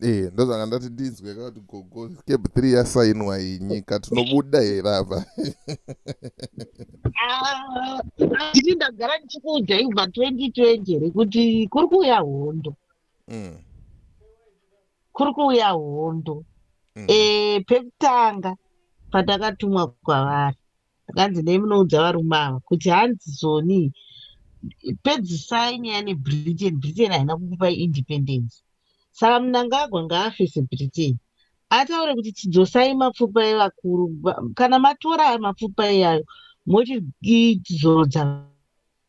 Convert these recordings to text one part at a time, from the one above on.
Eh, ndozvanga ndati ndinzwe kuti gogo cab three yasainwa yenyika tinobuda here apa ah, nditi ndagara ndichikuudzai kubva 2020 here kuti kuri kuuya hondo mm. kuri kuuya hondo mm. eh, pekutanga patakatumwa kwavari zvikanzi nei munoudza varume ava kuti hanzi zoni pedzisai nyaya nebritain britain haina kukupai independence saka munangagwa ngaafe sebritain ataure kuti chidzosai mapfupa evakuru kana matora mapfupa iyayo motizorodza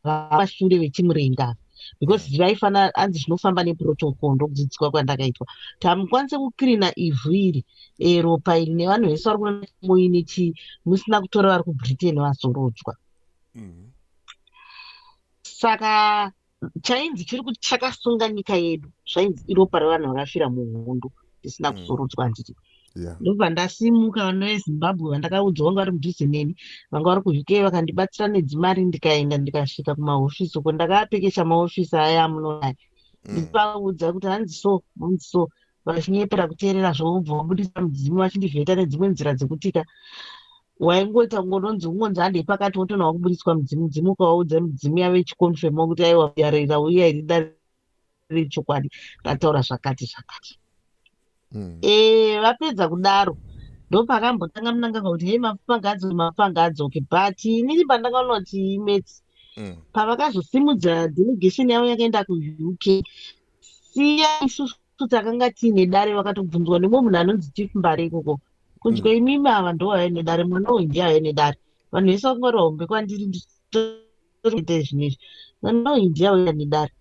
vavashure vechimurenga because mm. zvaifana anzi zvinofamba neprotocol ndokudzidziswa kwandakaitwa kuti hamukwanise kukrina ivhu iri eh, ropa iri nevanhu vese vari kunamoine chi musina kutora vari kubritain vazorodzwa mm. saka chainzi chiri kuti chakasunga nyika yedu zvainzi iropa revanhu vakafira muhondo mm. ndisina mm. kusurudzwa handiti ndobva ndasimuka vana vezimbabwe vandakaudzwa vanga vari mudhuze neni vanga vari kuuk vakandibatsira nedzimari ndikaenda ndikasvika kumahofisi uko ndakaapekesha mahofisi aya amunoaya mm. ndipaudza kuti hanzi so hanzi so vachinyepera kuteerera zvoubva vabudisa mudzimu vachindivheta nedzimwe nzira dzekutika waingoita kungononzi ungonzi handei pakati wotona wakubudiswa mudzimu dzimu ukawaudza midzimu yavo yechikonfema kuti aiwa yareira uye airidarira riri chokwadi rataura zvakati zvakati mm. e, vapedza kudaro ndopakambotanga munanganga kuti hei mapangadzo mapangadzo okay but inini pandanga ona kuti imets mm. pavakazosimudza delegation yavo yakaenda kuuk siya isusu takanga tiine dare vakatobvunzwa nemwe munhu anonzi chief mbare ikoko kunzwa mm. imimi ava ndovaive nedare mwana uyu ndiye aive nedare vanhu vese vakungwarira hombe kwandiri kuita zvinhu izvi mwana uyu ndiye auya nedare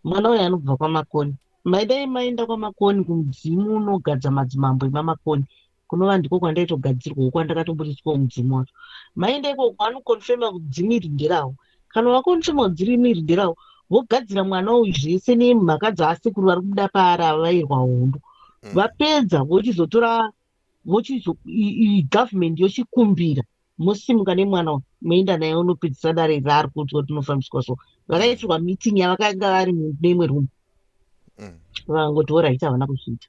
mwana uyu anobva kwamakoni maidai maenda kwamakoni kumudzimu unogadza madzimambo emamakoni kunova ndiko kwandaitogadzirwawo kwandakatombotiswawo mudzimu wacho maenda ikoko anokonfema kuti dzimu iri nderawo kana vakonfema kuti dzirimu iri nderawo vogadzira mwana uyu zvese nemhaka dzaasekuru vari kuda paari avairwa hondo mm. vapedza vochizotora vochizo government yochikumbira mosimuka nemwana uyu moenda naye unopedzisa dare raari kuti kuti unofambiswa so vakaitirwa meeting yavakanga vari neimwe room mm. vangoti orit havana kuzviita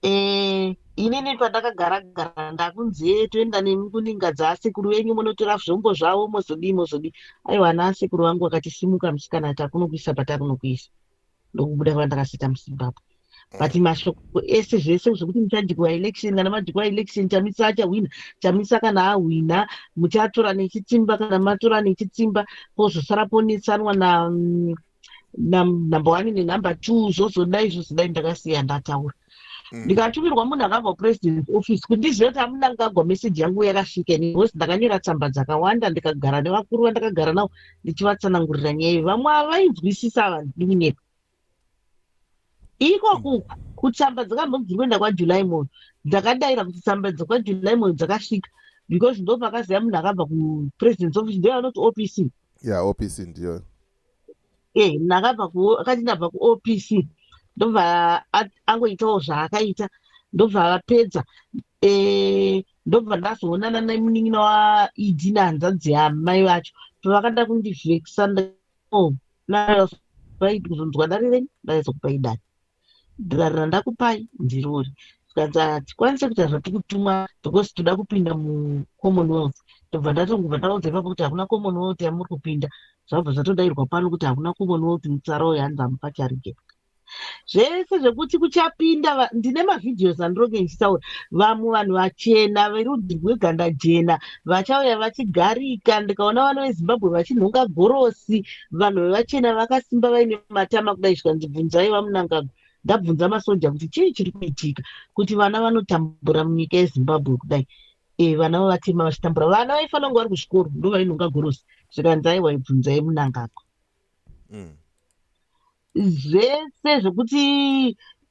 eh, inini pandakagara gara ndakunzi e toenda nemi kuninga dzaasekuru venyu munotora zvombo zvavo mozodii mozodii aiwa ana asekuru vangu vakatisimuka musikana takunokuisa patakunokuisa ndokubuda kuva ndakasita muzimbabwe but mm. mashoko ese zvese zvekuti muchajikwa election kana majikwa election chamisa achahwina chamisa kana ahwina muchatora nechitsimba kana matora nechitsimba pozosara ponetsanwa na mm, number one nenumber two zvozodai zvozodai ndakasiya ndataura mm. ndikatumirwa munhu akabva kupresident office kuti ndizive kuti amuna ngagwa meseji yangu yakasvika ini because ndakanyora tsamba dzakawanda ndikagara nevakuru vandakagara navo ndichivatsanangurira nyaya iyo vamwe avainzwisisa ava ndiri kunyepa ikoku kutsamba dzakambobviri kuenda kwajuly moyo dzakadaira kuti tsamba dzekwajuly moyo dzakasvika because ndopakaziva munhu akabva kupresident office ndoyavanoti opc ya opc ndiyo eh ndakabva ku akati ndabva ku OPC ndobva at- angoitawo zvaakaita ndobva vapedza eh ndobva ndazoonana nemunin'ina wa ED nehanzvadzi yamai vacho pavakada kundivhekisa nd- oh, na- right kuzonzwa dare renyu ndaizokupai dare dhirari randakupai ndirori zvikanzi hatikwanise kuita zvatikutumwa because toda kupinda mucommonwealth tobva ndatongobva ndaudza ipapo kuti hakuna commonwealth yamuri kupinda zvabva zvatodairwa pano kuti hakuna commonwealth mutsara uyo hanzi amupa charige zvese zvekuti kuchapinda ndine mavhidhios andironge ndichitaura vamwe vanhu vachena verudzi rweganda jena vachauya vachigarika ndikaona vana vezimbabwe vachinhonga gorosi vanhu vevachena vakasimba vaine matama kudai zvikanzi bvunzai vamunangagwa ndabvunza masoja kuti chii chiri kuitika kuti vana vanotambura munyika yezimbabwe kudai e, vana vavatema vachitambura vana vaifanira kunge vari kuzvikoro ndo vainonga gorosi zvikanzi aiwa ibvunzai munangagwa mm. zvese zvekuti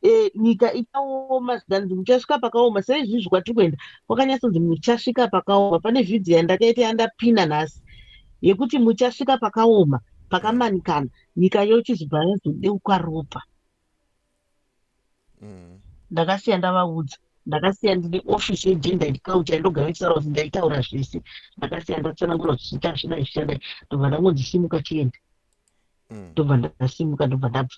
e, nyika ichaoma zvikanzi muchasvika pakaoma seizvizvi kwatiri kuenda kwakanyatsonzi muchasvika pakaoma pane vhidhiyo yandakaita yandapina nhasi yekuti muchasvika pakaoma pakamanikana nyika yochizibva yazodeuka ropa mm. ndakasiya ndavaudza ndakasiya ndine ofisi yegender and culture ndogara ndichitaura kuti ndaitaura zvese ndakasiya ndatsanangura kuti zviita zvida zvichadai ndobva ndangonzi simuka chienda mm. ndobva ndasimuka ndobva ndabva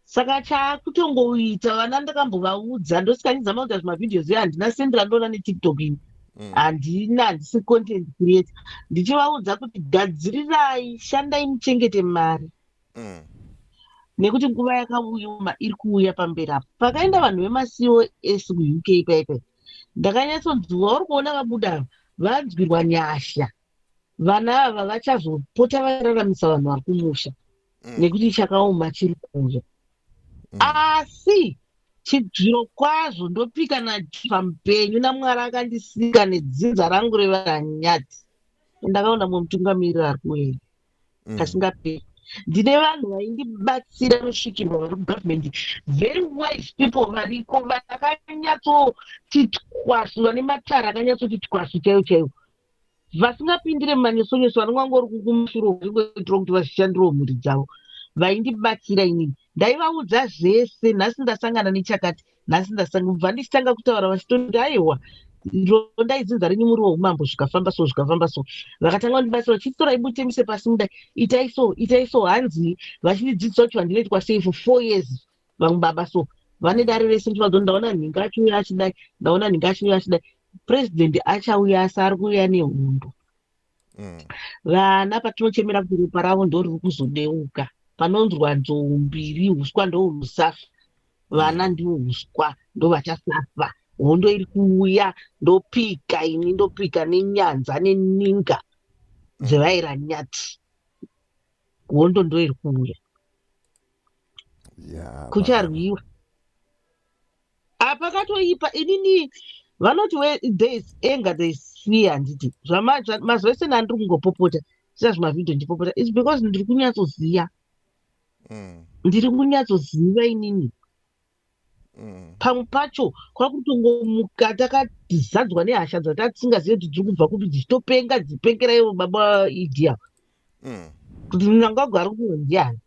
saka chakutongoita vana ndakambovaudza ndosikanizama kuita zvimavhidhios iyo handina sendi randoona netiktok ini mm. handina handisi content creator ndichivaudza kuti gadzirirai shandai muchengete mari mm. nekuti nguva yakauya iri kuuya pamberi apo pakaenda vanhu vemacos kuuk paipai ndakanyatsonzwa uri kuona vabuda vanzwirwa nyasha vana ava vachazopota vararamisa vanhu vari kumusha mm. nekuti chakaoma chiri kuuya mm. asi chibviro kwazvo ndopika najiva mupenyu namwari akandisika nedzinza rangu revaranyati ndakaona mumwe mutungamiriri ari kuenda mm. kasingaperi ndine vanhu vaindibatsira rusvikirwa vari kugovernment very wise people variko vakanyatsoti twasu vane matara akanyatsoti twasu chaiyo chaiyo vasingapindire mumanyosonyoso vanenge vangori kukumusuro vaingoitira kuti vashandirewo mhuri dzavo vaindibatsira inini ndaivaudza zvese nhasi ndasangana nechakati nhasi ndasanga kubva ndichitanga kutaura vachitoti aiwa ndonda idzinza renyu muri weumambo zvikafamba so zvikafamba so vakatanga kundibatsira vachitora ibutemise pasi mudai itai so itai so hanzi vachindidzidzisa kuti vandinoitwa sei for four years vamwe baba so vane dare rese ndivadzo ndaona nhinga achiuya achidai ndaona nhinga achiuya achidai president achauya asi ari kuuya nehondo mm. vana patinochemera kuti ropa ravo ndo riri kuzodeuka panonzwa nzou mbiri uswa ndounosafa vana mm. ndivo uswa ndovachasafa hondo iri kuuya ndopika ini ndopika nenyanza neninga mm. dzevaira nyati hondo ndoiri kuuya yeah, kucharwiwa apa katoipa inini vanoti thereis anger thereis fear handiti mazuva ese nani ndiri kungopopota sina zvimavhidhio ndipopota is because ndiri kunyatsoziva mm. ndiri kunyatsoziva inini Mm. pamwe pacho kwakutongomuka takazadzwa nehasha dzatatisingazive kuti dziri kubva kupi dzichitopenga dzipengera ivo baba idia mm. kuti munangagwa ari kuno ndiani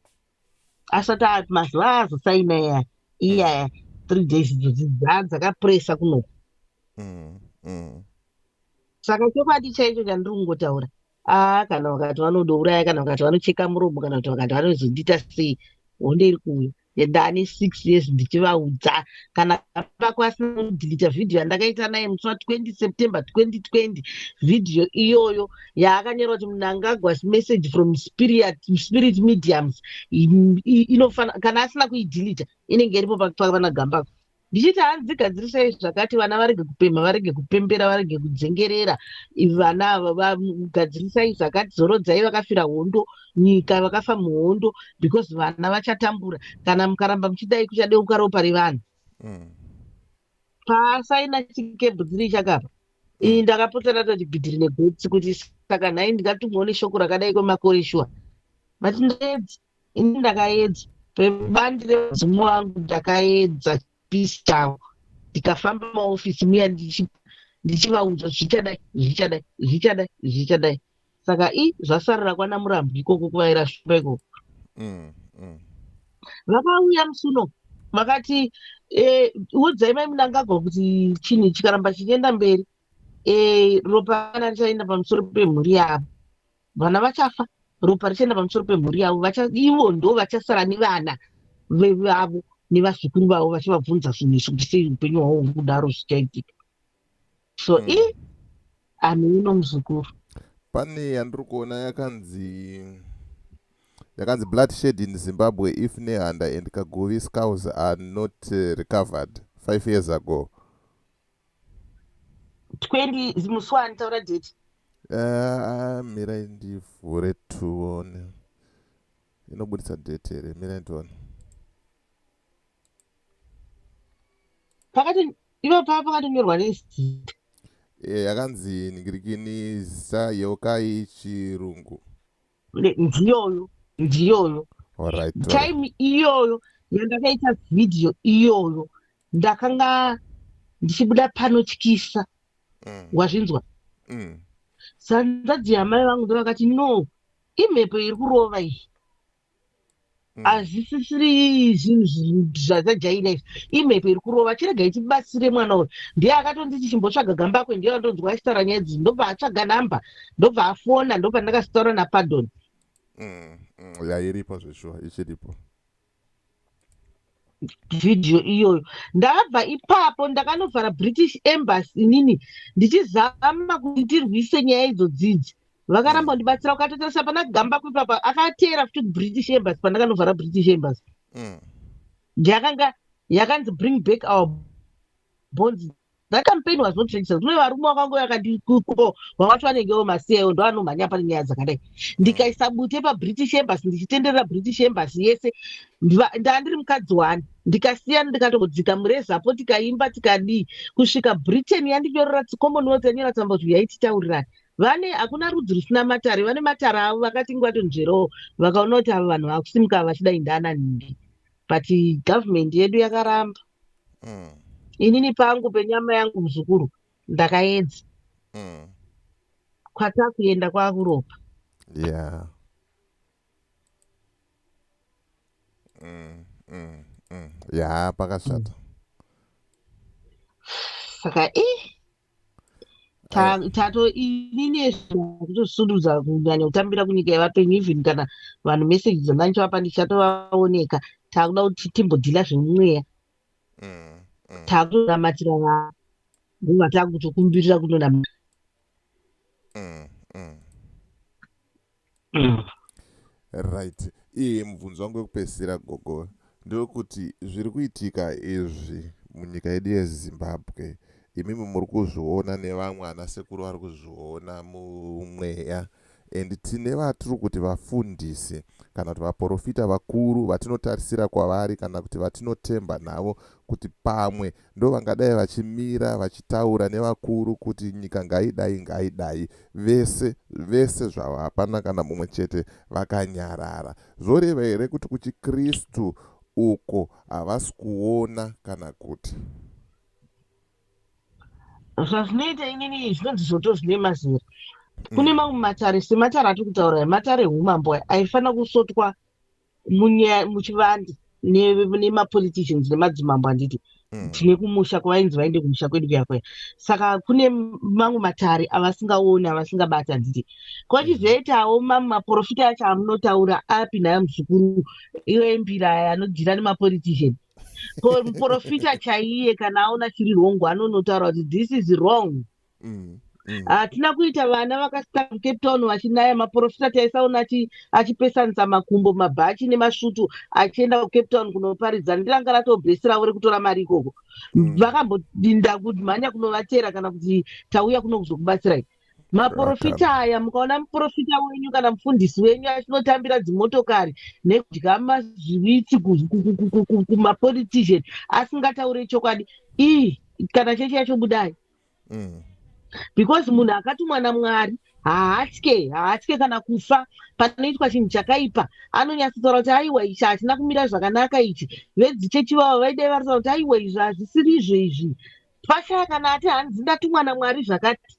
asati ati mazuva azosaina iya iyaya mm. three days idzodzi dzakapresa kunoku saka chokwadi chaicho chandiri kungotaura aa kana vakati vanodouraya kana vakati vanocheka muromo kana kuti vakati vanozondiita sei honde iri kuuya ndani 6 years ndichivaudza kana vako asina kudhilita vhidhiyo yandakaita naye musi wa 20 september 2020 vhidhiyo iyoyo yaakanyora kuti munangagwas message from spirit, spirit mediums inofana kana asina kuidhilita inenge iripo pakupaka pana gambako ndichiti hanzi dzigadzirisai zvakati vana varege kupemha varege kupembera varege kudzengerera vana vadzirisai zvakati zorodzai vakafira hondo nyika vakafa muhondo because vana vachatambura kana mukaramba muchidai kuchadeuka ropa revanhu mm. paasaina chikebhu dziri chakapa iyi mm. ndakapota ndatoti bhidhiri negotsi kuti saka nhai ndingatumwawo neshoko rakadai kwemakore shuwa mati ndedzi ini ndakaedza pebandi remudzimu wangu ndakaedza peace chavo ndikafamba maofisi muya ndichivaudza zvichadai zvichadai zvichadai zvichadai saka i zvasarira kwana murambi ikoko kuvaira shumba ikoko mm, mm. vakauya musuno vakati eh, udzai mai munangagwa kuti chinhu chikaramba chichienda mberi eh, ropa kana richaenda pamusoro pemhuri yavo vana vachafa ropa richaenda pamusoro pemhuri yavo ivo ndo vachasara nevana vevavo nevazukuru vavo vachivabvunza zvinhu izvi kuti sei upenyu hwavo huri kudaro zvichaitika so mm. i anhu uno muzukuru pane yandiri kuona yakanzi yakanzi blood shed in zimbabwe if nehanda and kaguvi scows are not eh, recovered five years ago 20 zimusi wani taura date uh, mirai ndivhure tione inobudisa date here mirai ndione pakati ivo pava pakatonyorwa nezita eh, yakanzi ningirikini zita yeukai chirungu ndiyoyo ndiyoyo time iyoyo yandakaita vhidhiyo iyoyo ndakanga ndichibuda panotyisa mm. wazvinzwa mm. sanzadzi yamai vangu ndovakati no imhepo iri kurova iyi Mm. hazvisisiri zvinhu zvazajaira izvi imhepo iri kurova chirega ichibatsire mwana uyu ndiye akatonditi chimbotsvaga gamba akwe ndiye andonzwa achitaura nyaya dzii ndobva atsvaga namba ndobva afona ndobva ndakasitaura napardon mm, mm, yairipo zveshuwa ichiripo vhidhiyo iyoyo ndakabva ipapo ndakanovhara british embassy inini ndichizama kuti ndirwise nyaya idzo dzidzi vakaramba mm. ndibatsira ukatotarisa pana gamba kuipapa akateera futi kubritish embassy pandakanovhara british embassy mm. yakanga yakanzi bring back our bonds that campaign was not traditional kune varume wakango yakati kuko vavati vanenge vomasiyawo ndo vanomhanya pane nyaya dzakadai ndikaisa bute pabritish embassy ndichitenderera british embassy yese ndandiri mukadzi wani ndikasiyana ndikatodzika murezapo tikaimba tikadii kusvika britain yandinyorera commonwealth yanyora tsamba kuti uyai titaurirani vane hakuna rudzi rusina matare vane matare avo vakati ngwatonzverowo vakaona kuti avo vanhu vakusimuka vachidai ndaananhingi but government yedu yakaramba mm. inini pangu penyama yangu muzukuru ndakaedza mm. kwatakuenda kwakuropa yeah. mm, mm, mm. ya pakashata mm. saka i eh, tato inini zvakutosundudza kunyanya kutambira kunyika yevapenyu even kana vanhu meseji dzandanichavapa ndichatovaoneka taakuda kuti timbodhila zvemumweya mm, mm. taakutonamatira vaa nguva taakutokumbirira kunonamata mm, mm. right iye mubvunzo wangu wekupedzisira gogo ndewekuti zviri kuitika izvi munyika yedu yezimbabwe imimi muri kuzviona nevamwe ana sekuru vari kuzviona mumweya and tine vatiri kuti vafundisi kana kuti vaprofita vakuru vatinotarisira kwavari kana kuti vatinotemba navo kuti pamwe ndovangadai vachimira vachitaura nevakuru kuti nyika ngaidai ngaidai vese vese zvavo hapana kana mumwe chete vakanyarara zvoreva here kuti kuchikristu uko havasi kuona kana kuti zvazvinoita inini zvinonzi zvoto zvine mazera kune mm. mamwe matare sematare atiri kutaura matare ehumambo aifanira kusotwa muchivande nemapoliticians nemadzimambo handiti hmm. tine kumusha kwavainzi vaende kumusha kwedu kuya kuya saka kune mamwe matare avasingaoni avasingabati handiti kwachizoitawo hmm. mamwe maprofita acho amunotaura api nayo muzukuru iwe mbira aya anodhira nemapolitician ko muprofita chaiye kana aona chiri wrongo anonotaura kuti this is wrong mm. Mm. hatina mm. uh, kuita vana vakasika mucape town vachinaya maprofita taisaona achipesanisa makumbo mabhachi nemasvutu achienda kucape town kunoparidza ndiranga ratobhesiravo rekutora mari ikoko mm. vakambodinda mm. kumhanya kunovatera kana kuti tauya kuno kuzokubatsirai maprofita aya mukaona muprofita wenyu kana mufundisi wenyu achinotambira dzimotokari nekudya mazvivitsi kumapolitician asingataure chokwadi ii kana chechi yacho budai mm. because munhu akatumwa namwari haatye haatye kana kufa panoitwa chinhu chakaipa anonyatsotaura kuti aiwa ichi hachina kumira zvakanaka ichi vedzichechi vavo vaidai varisa kuti aiwa izvi hazvisiri izvo izvi pashaya kana ati hanzi ndatumwa namwari zvakati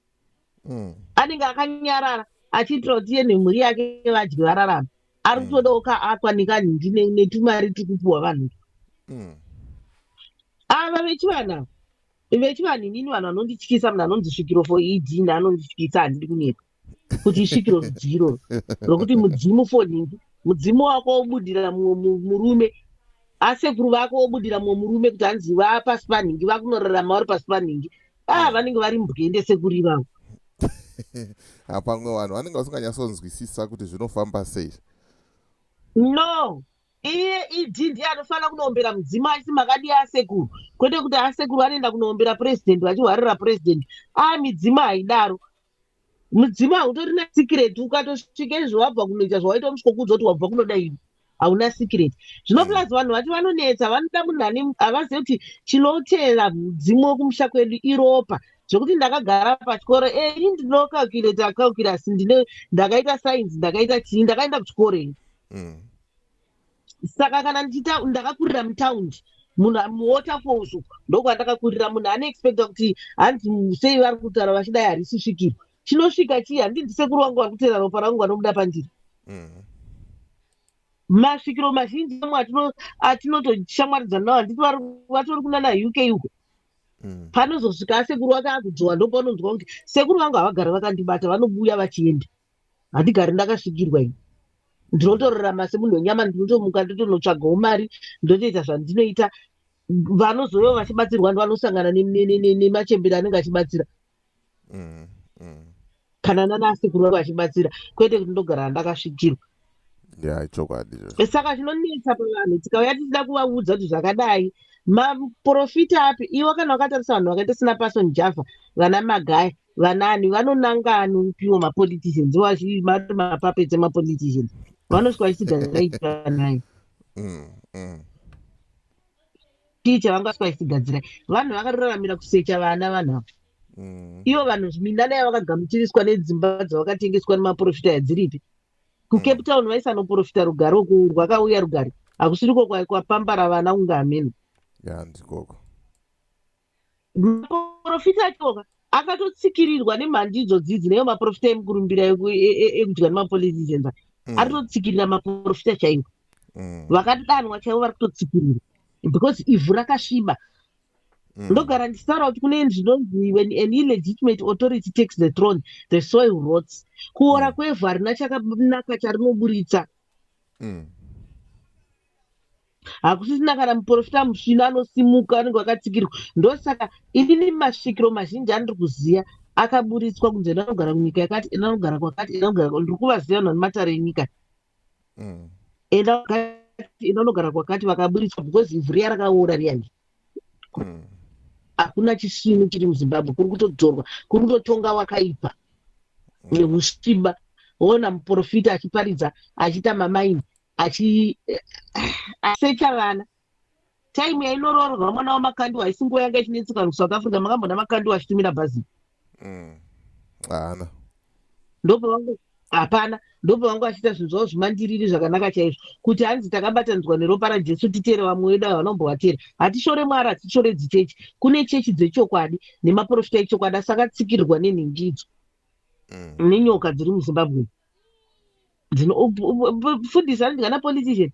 mm. anenge akanyarara achiitira kuti iye nemhuri yake vadye vararama ari mm. kutodawo ka akwa nekanhingi netumari tikupiwa vanhu mm. ava vechivanavo Vechivanhu inini vanhu vanondityisa munhu anonzi svikiro for ed ndi anondityisa handidi kunyepa kuti isvikiro zidzii iroro rokuti mudzimu for nhingi mudzimu wako wobudira mumwe murume asekuru vako wobudira mumwe murume kuti hanzi vapasi panhingi vakunorarama vari pasi panhingi a ah, vanenge vari mbwende sekuru ivavo hapamwe vanhu vanenge vasinganyatsonzwisisa kuti zvinofamba sei no iye ed ndiye anofanira kunoombera mudzimu achiti makadii asekuru kwete kuti asekuru anoenda kunoombera purezidendi vachihwarira purezidendi aa midzimu haidaro mudzimu hautori nesikireti ukatosvika izvo wabva kunoita zvawaita unosvikokuudza kuti wabva kunoda ini hauna sikireti zvino mm. plus vanhu vati vanonetsa vanoda munhu ane havazive kuti chinotera mudzimu wekumusha kwedu iropa zvekuti ndakagara pachikoro e ini ndinokalculator calculus ndine ndakaita science ndakaita chii ndakaenda kuchikoro ini mm. saka kana ndakakurira mutaundi munhu muwaterfalls uku ndokwandakakurira munhu anoexpecta kuti hanzi sei vari kutaura vachidai harisi svikiro chinosvika chii handii ndisekuru wangu vari kuteera ropa rangu vanobuda pandiri mm. masvikiro mazhinji amwe atinotoshamwaridzana navo handiti vatori kunana uk uko mm. panozosvika asekuru wake akudzwa ndopanonzwa kuti sekuru vangu havagara vakandibata vanobuya vachienda handigari ndakasvikirwa ini ndinotorarama semunhu wenyama ndinotomuka ndotonotsvagawo mari ndotoita zvandinoita vanozouya vachibatsirwa ndi vanosangana nemachembere anenge achibatsira mm, mm. kana nanasekuru vange vachibatsira kwete kuti ndogara ndakasvikirwa chokwadi saka zvinonetsa pavanhu tikauya tichida kuvaudza kuti zvakadai maprofita api iwo kana wakatarisa vanhu vakaita sina pason java vana magaya vanani vanonanga anopiwa mapoliticians vazvii mati mapuppets emapoliticians vanosvika vachitigazaitwa naye mm, mm chii chavangaswa vachitigadzirai vanhu vakatoraramira kusecha vana vanhu ava mm. ivo vanhu minana yavakagamuchiriswa nedzimba dzavakatengeswa nemaprofita yadziripi kucape mm. town vaisanoprofita rugare uku rwakauya rugare hakusiriko kwapambara vana kunge hameno yandikoko yeah, maporofita achoka akatotsikirirwa nemhandidzo dzidzi neyo maporofita emukurumbira e, e, e, ekudya nemapoliticians mm. ari totsikirira maporofita chaiwo mm. vakadanwa chaivo vari kutotsikirira because ivhu rakasviba mm. ndogara ndichitaura kuti kune zvinonzi when an illegitimate authority takes the throne the soil rots kuora kwevhu harina chakanaka charinoburitsa hakusisina kana muprofita musvino anosimuka anenge wakatsikirwa ndosaka inini masvikiro mazhinji andiri kuziva akaburitswa kunzi ena anogara kunyika yakati ena anogara kwakati ena anogara ndiri kuvaziva vanhu vane matare enyika mm. ena wakati ena anogara kwakati vakaburitswa because ivhu riya rakaora riyani mm. hakuna chisvinu chiri muzimbabwe kuri kutodzorwa kuri kutotonga wakaipa mm. neusviba ona muprofita achiparidza achiita mamaini achi eh, asecha vana time yainoroorwa mwana wamakandiwa haisi nguva yanga ichinetseka kusouth africa makambona makandiwa achitumira bhazi mm. haana ndopavangu hapana ndopavangu achiita zvinhu zvavo zvimandiriri zvakanaka chaizvo kuti hanzi takabatanidzwa neropa rajesu titere vamwe vedu avo vanombovatera hatishore mwari hatishore dzichechi kune chechi dzechokwadi nemaprofita echokwadi asi akatsikirirwa nenhingidzo mm. nenyoka dziri muzimbabwe mm. dzinofundisa ndingana politician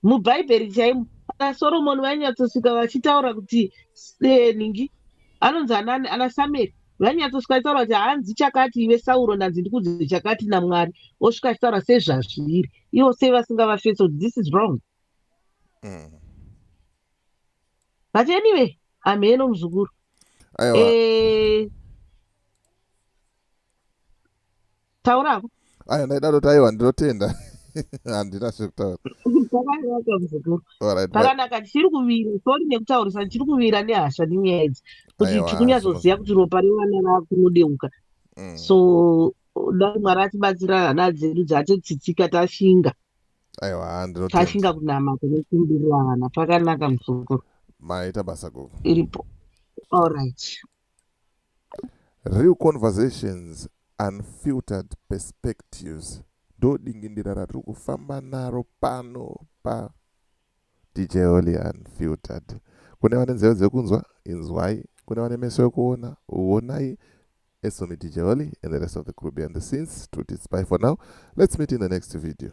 mubhaibheri chaimo ana soromoni vainyatsosvika vachitaura kuti eh, ningi anonzi anani ana samueri vainyatsosvika achitaura kuti hanzi chakati ive sauro ndanzi ndikudzi chakati namwari osvika achitaura sezvazviri ivo sei vasingavafeso kuti this is wrong mm. but anyway amheno muzukuru eh, taura hako aya ndaida toti aiwa ndinotenda handina zvekutaura zvakanaka muzukuru zvakanaka tichiri kuvira sori nekutaurisa tichiri kuvira nehasha nenyaya idzi kuti tikunyazoziva kuti ropa revana rakunodeuka mm. so dai mwari atibatsira hana dzedu dzatetsitsika tashinga aiwa tashinga kunamata nekumbirira vana pakanaka muzukuru maita basa gogo iripo allright Real conversations unfiltered perspectives ndodingindira ratiri kufamba naro pano pa dj holy unfiltered kune vane nzeve dzekunzwa inzwai kune vane meso ekuona uonai esomi dj holy and the rest of the crew behind the scenes to tits by for now let's meet in the next video